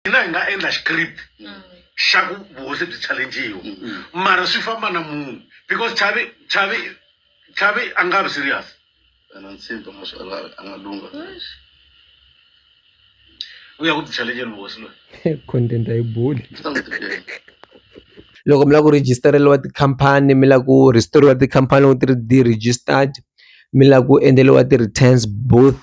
hina hi nga endla script mm. xa ku vuhosi byi challengiwa mm, mm. mara swi famba na munhu because chavi chavi chavi a nga vi serious and I'm saying to myself, Allah, Allah, Lunga. We are going to challenge him, boss. Content, I bull. loko mi lava ku registereriwa tikhampani mi lava ku restore-iwa tikhampani loko ti ri ti-registered mi lava ku endleriwa ti-returns both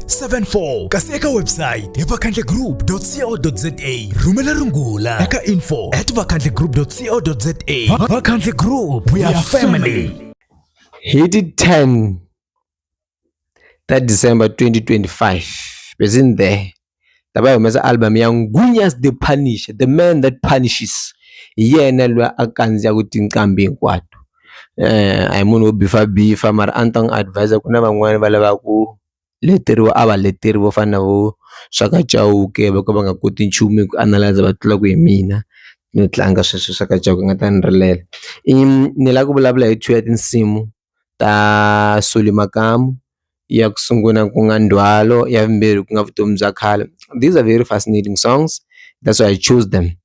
74 kasi eka website hi vakhandlegroup.co.za rhumela rungula eka info at vakhandlegroup.co.za vakhandle group we are family hi ti 10 ta december 2025 bezini there lava yi humesa album ya ngunyas the punisher the man that punishes hi yena loyi a kandziyaka tinqambi hinkwato um a hi munhu wo bifa bifa mara a ni ta n'wi advise ku na van'wani va lavaku leteriwa a va leteri vo fana na vo Shaka Chauke vo ka va nga koti nchumu hi ku analyser va tlula ku hi mina no tlanga sweswo swa Shaka Chauke ni nga ta ni rilela i ni lava ku vulavula hi two ya tinsimu ta Solly Makamu ya ku sungula ku nga ndzhwalo ya vumbirhi ku nga vutomi bya khale these are very fascinating songs that's why I chose them.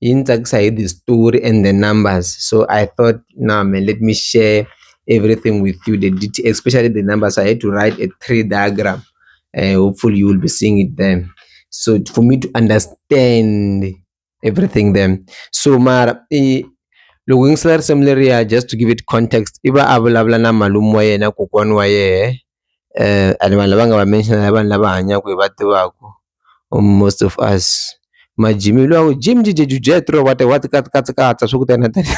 yi ni tsakisa hi the story and the numbers so I thought nah man let me share everything with you the details especially the numbers I had to write a tree diagram uh, hopefully you will be seeing it then so for me to understand everything then so mara eh, loko yingisela risimu leriya just to give it context i va a vulavula na malume wa yena kokwana wa yena and vanhu lava nga va mention i vanhu lava hanyaka hi va tivaka most of us ma Jimmy luya u Jim Jim Jim Jethro what what kat kats katsa swi ku tani na tani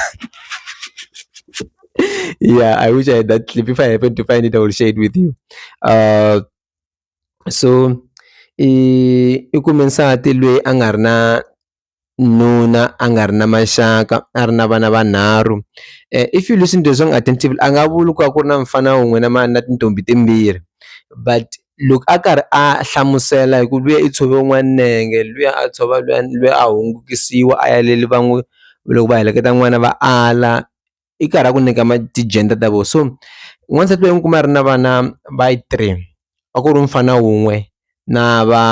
ya I wish I had that clip if I happen to find it I will share it with you so i i kume nsati lweyi a nga ri na. nuna a nga ri na maxaka a ri na vana vanharhu if you listen to the song attentively a nga vuli ku va ku ri na mufana wun'we na na tintombhi timbirhi but loko a karhi a hlamusela hi ku luya i tshove wun'wana nenge luya a tshova luya luya a hungukisiwa a ya le va n'wi loko va heleketa n'wana va ala. i karhi a ku nyika ti-gender ta vona so n'wansati loyi u kuma a ri na vana va yi three a ku ri mufana wun'we na va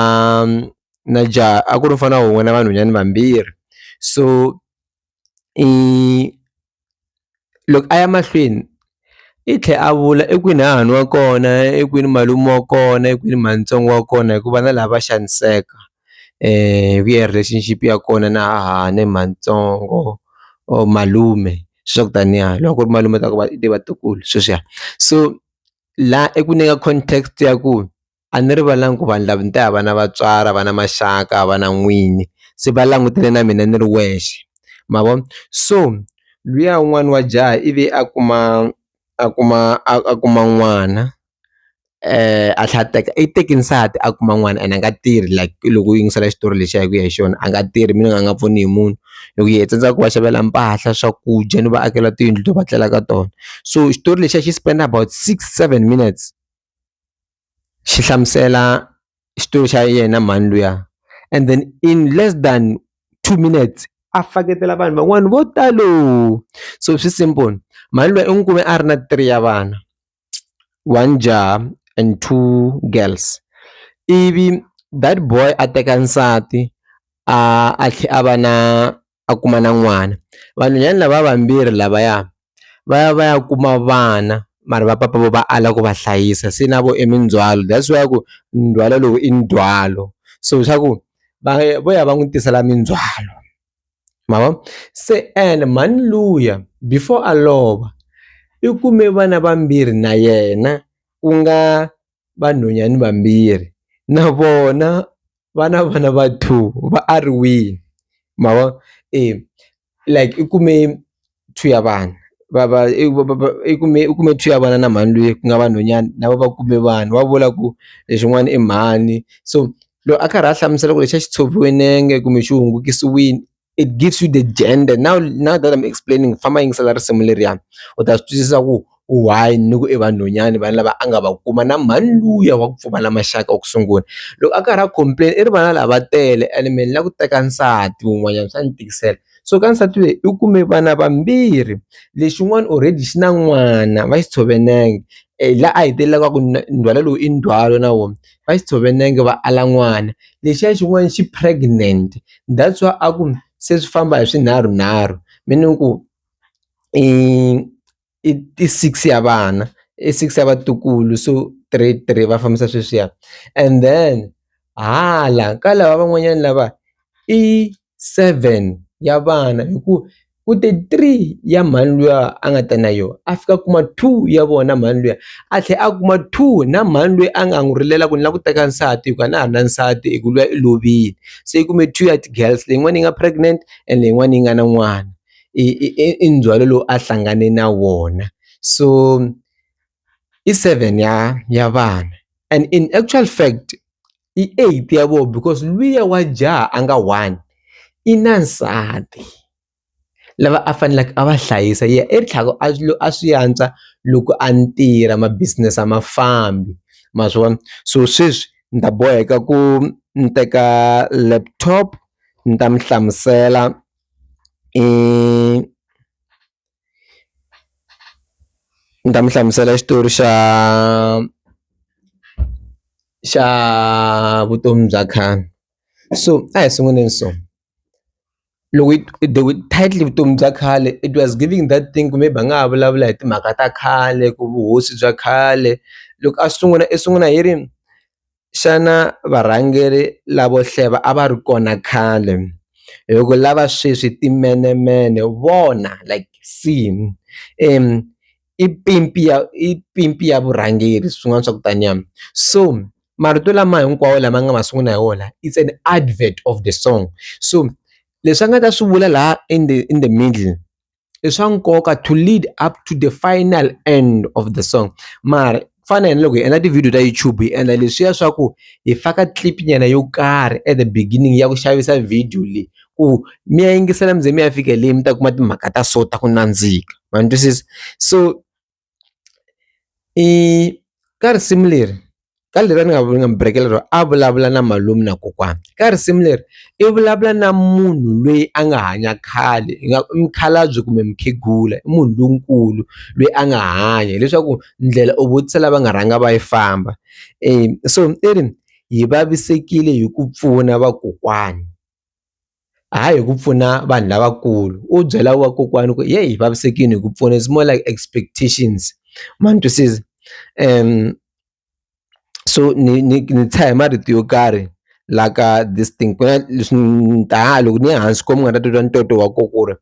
na jaha a ku ri mufana wun'we na vanhwanyani vambirhi so i loko a ya mahlweni i tlhela a vula i kwini hahani wa kona i kwini malume wa kona i kwini mhani ntsongo wa kona hikuva na lava va xaniseka. hi ku ya relationship ya kona na hahani matsongo or malume swa ku taniya loko ku ri malume u ta ku va i vatukulu sweswiya so la i ku nyika context ya ku a ni rivalanga ku vanhu lava ni te a va na vatswari a va na maxaka a va na n'wini se va langutele na mina ni ri wexe ma vo so luya un'wana wa jaha ivi a kuma a kuma a kuma n'wana. a tlhela a teka i teke nsati a kuma n'wana and a nga tirhi like loko u yingisela xitori lexiya hi ku ya hi xona a nga tirhi meaning a nga pfuni hi munhu loko hi tsandzeka ku va xavela mpahla swakudya ni va akela tiyindlu to va tlela ka tona so xitori lexiya xi spend about six seven minutes xi hlamusela xitori xa yena mhani luya and then in less than two minutes a faketela vanhu van'wana vo talo so swi simple mhani luya i n'wi kume a ri na three ya vana. one jaha and two girls ivi that boy a teka nsati a a tlhela a va na a kuma na n'wana vanhwanyana lava vambirhi lavaya va ya va ya kuma vana mara va papa vo va ala ku va hlayisa se na vo i mindzhwalo that's why ku ndzhwalo lowu i ndzhwalo so swa ku va vo ya va n'wi tisela mindzhwalo. ma vo se ene mhani luya before a lova i kume vana vambirhi na yena ku nga vanhwanyani vambirhi na vona va na vana va two va a ri wile ma vo e like i kume. two ya vana va va i ku va va i kume i kume two ya vana na mhani luya ku nga vanhwanyana na vona va kume vanhu va vula ku lexin'wana i mhani so loko a karhi a hlamusela ku lexi a xi tshoviwe nenge kumbe xi hungukisiwile it gives you the gender now now that am explaining famba yingisela risimu leriya u ta swi twisisa ku. u one ni ku i vanhwanyani vanhu lava a nga va kuma na mhani luya wa ku pfumala maxaka wa ku sungula loko a karhi a complain i ri vana lava tele and me ni la ku teka nsati wun'wanyana swa ni tikisela so ka nsati lweyi u kume vana vambirhi lexin'wana already xi na n'wana va xi tshove nenge la a hetelelaka a ku ndzhwalo lowu i ndzhwalo na wona va xi tshove nenge va ala n'wana lexiya xin'wana xi pregnant that's why a ku se swi famba hi swinharhu nharhu meaning ku i. i i six ya vana i six ya vatukulu so three three va fambisa sweswiya and then hala ka lava van'wanyana lava i seven ya vana hi ku ku te three ya mhani luya a nga ta na yoho a fika a kuma two ya vona mhani luya a tlhela a kuma two na mhani loyi a nga n'wi rilela ku ni lava ku teka nsati hi ku a na ha na nsati hi ku luya i lovile se i kume two ya ti-girls leyin'wana yi nga pregnant and leyin'wana yi nga na n'wana i i i i ndzhwalo lowu a hlangane na wona so i seven ya ya vana and in actual fact i eight ya vona because luya wa jaha a nga one i na nsati lava a faneleke a va hlayisa ye i tlhela a swi a swi antswa loko a tirha ma business a ma fambi ma swi vona so sweswi ni ta boheka ku ni teka laptop ni ta mi hlamusela. i ni ta mi hlamusela xitori xa xa vutomi bya khale so a hi sunguleni so loko the with title vutomi bya khale it was giving that thing kumbe hi nga ha vulavula hi timhaka ta khale ku vuhosi bya khale loko a sungula i sungula hi ri. xana varhangeri lavo hleva a va ri kona khale hi ku lava sweswi timenemene vona like seen i pimpi ya i pimpi ya vurhangeri swin'wana swa ku taniya so marito lama hinkwawo lama nga ma sungula hi wona it's an advert of the song so leswi a nga ta swi vula la in the in the middle. i swa nkoka to lead up to the final end of the song mara ku fana na loko hi endla ti-video ta YouTube hi endla leswiya swa ku hi faka clip nyana yo karhi at the beginning ya ku xavisa video leyi ku mi ya yingisela mi ze mi ya fika le mi ta kuma timhaka ta so ta ku nandzika ma ni twisisa so. I ka risimu leri ka leri a ni nga nga mi burekela rona a vulavula na malume na kokwana ka risimu leri i vulavula na munhu loyi a nga hanya khale hi nga i mukhalabye kumbe mukhegula i munhu lonkulu loyi a nga hanya hileswaku ndlela u vutisa lava nga rhanga va yi famba so i ri hi vavisekile hi ku pfuna vakokwani. hayi hi ku pfuna vanhu lavakulu u byela vakokwani ku yeyi hi vavisekile hi ku pfuna it's more like expectations ma ni twisisa so ni ni ni tshaha hi marito yo karhi la ka this thing ku na leswi ni ta loko ni ya hansi ko mi nga ta titwa ntoto wa ko ku ri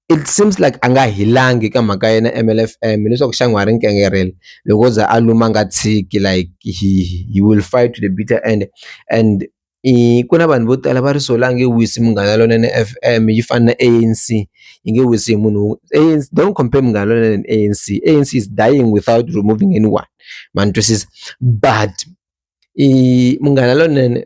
it seems like a nga hilangi ka mhaka ya yena M_L_F_M hileswaku xana wa ha ri nkangareko loko o za a luma a nga tshiki like he he will fight to the bitter end and i ku na vanhu vo tala va ri solangi yi wisi Munghana Lonene F_M yi fana na A_N_C yi nge wisi hi munhu A_N_C don't compare Munghana Lonene and A_N_C, A_N_C is dying without removing anyone ma ni twisisa but i Munghana Lonene.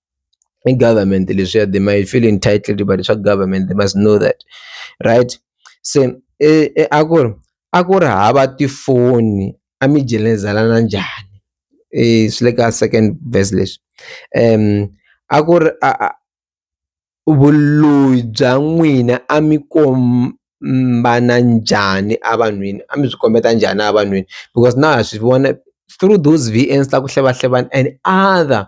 i government leswiya they might feel entitled va leswa government they must know that right se a ku ri a ku ri hava tifoni a mi jelezana njhani swi le ka second verse leswi a ku ri a a. vuloyi bya n'wina a mi kombana njhani a vanhwini a mi byi kombeta njhani a vanhwini because na ha swi vona through those V_N_S ta ku hlevahlevana and other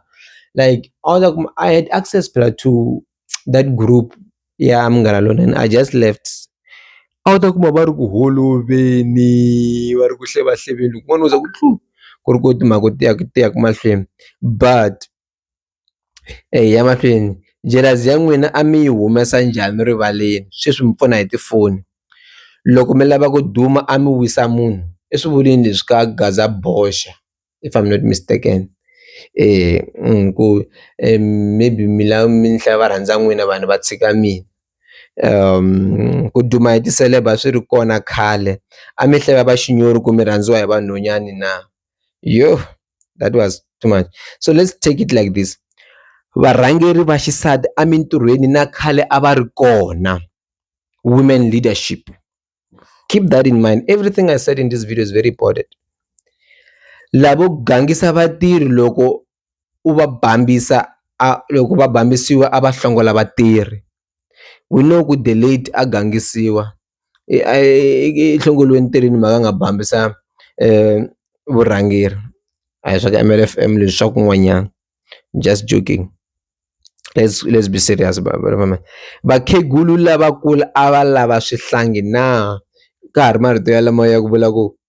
like a wu ta kuma I had access phela to that group ya Munghana Lonene I just left a wu ta kuma va ri ku holoveli va ri ku hlevahleveni loko n'wana wo ze ku tluu ku ri ku timhaka ti ya ti ya ku mahlweni but. Eya ya mahlweni jealous ya n'wina a mi yi humesa njhani rivaleni sweswi mi pfuna hi tifoni loko mi lava ku duma a mi wisa munhu i swi vuleni leswi ka gazaboxa if I'm not mistaken ku maybe mi lava mi ni hlaya varhandza n'wina vanhu va tshika mina ku duma hi ti-celeb a swi ri kona khale a mi hlaya va xinyori ku mi rhandziwa hi vanhwanyani na yoh. that was too much so let's take it like this varhangeri va xisati emintirhweni na khale a va ri kona women leadership keep that in mind everything i said in this video is very important lavo gangisa vatirhi loko u va bambisa a loko va bambisiwa a va hlongola vatirhi we know ku the late a gangisiwa i a i hlongoriwa entirhweni mhaka a nga bambisa vurhangeri a hi swa ka M_L_F_M leswi swa kun'wanyana just joking let's let's be serious vakhegula lavakulu a va lava swihlangi na ka ha ri marito ya lama ya ku vula ku.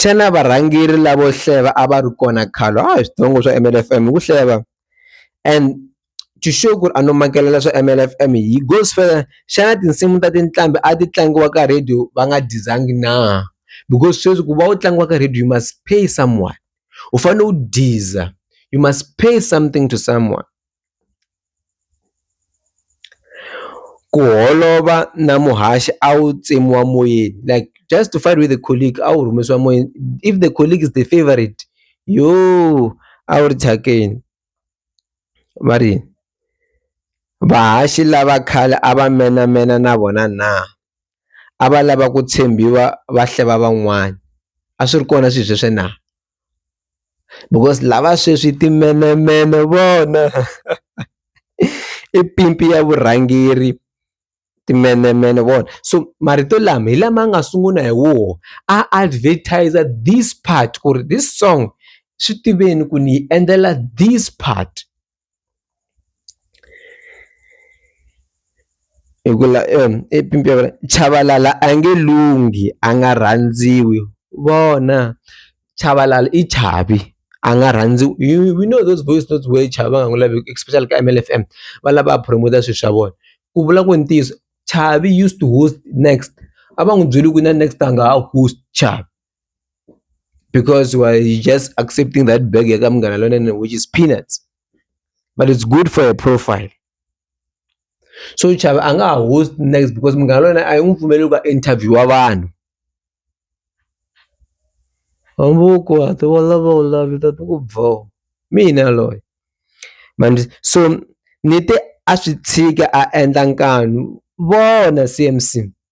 Xana varhangeri lavo hleva a va ri kona khale a hi switsongo swa M_L F_M hi ku hleva and to show ku ri a no makela swa M_L F_M hi gospel xana tinsimu ta tinqambi a ti tlangiwa ka radio va nga dizangi na because sweswi ku va u tlangiwa ka radio you must pay someone u fanele u diza you must pay something to someone. Ku holova na muhaxi a wu tsemiwa moyeni like just to fight with a colleague a wu rhumisiwa moyeni if the colleague is the favourite yooh a wu ri thyakeni va ri yini vahaxi lava khale a va menamena na vona na a va lava ku tshembiwa va hleva van'wana a swi ri kona swilo sweswo na. because lava sweswi i timenemene vona i pimpi ya vurhangeri timenemene vona so marito lama hi lama nga sungula hi woho a advertiser this part ku ri this song swi tiveni ku ni yi endlela this part. Hi ku la Chabalala a nge lunghi a nga rhandziwi vona Chabalala i chavi a nga rhandziwi you you know those voice notes where chavi va nga n'wi laveki especially ka Mfm fm va lava a promote-a swilo swa vona ku vula ku ntiyiso Chavi used to host next a va n'wi byeli ku na next a nga ha host Chavi. because why you just accepting that bag yakamngana lonene which is peanuts but it's good for your profile so chava a nga ha host next because munghana lona a yi n'wi pfumeleli ku interviewa vanhu hambuku hati wa lava u lavi ta ti ku bvo mina loyi mani so ni te a swi tshika a endla nkanu vona cmc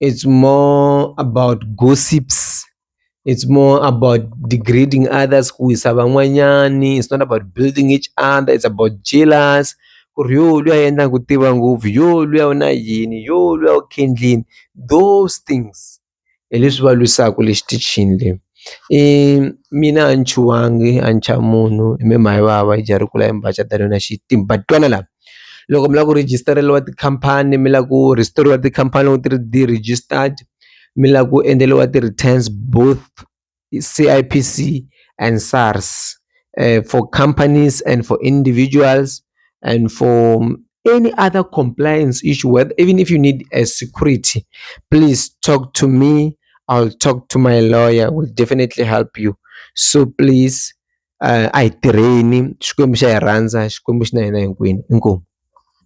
it's more about gossips it's more about degrading others kuwisa van'wanyani it's not about building each other it's about jealous ku ri yo luya endla ku tiva ngopfu yo luya u na yini yo luya u khendlini those things hi leswi va lwisaka le xitichini le um mina a ni chuhangi a ni chavi munhu i me mhani vava i jaha ri kula i mbaca tani na xitimba twana la. loko mi lava ku rejistariwa tikhampani mi lava ku rhisiteriwa tikhampani loko ti ri ti-registered mi lava ku endleriwa ti-returns both C_I_P_C and SARS for companies and for individuals and for any other compliance issue where even if you need a security please talk to me I'll talk to my lawyer will definitely help you so please. a hi tirheni Xikwembu xa hi rhandza Xikwembu xi na hina hinkwenu inkomu.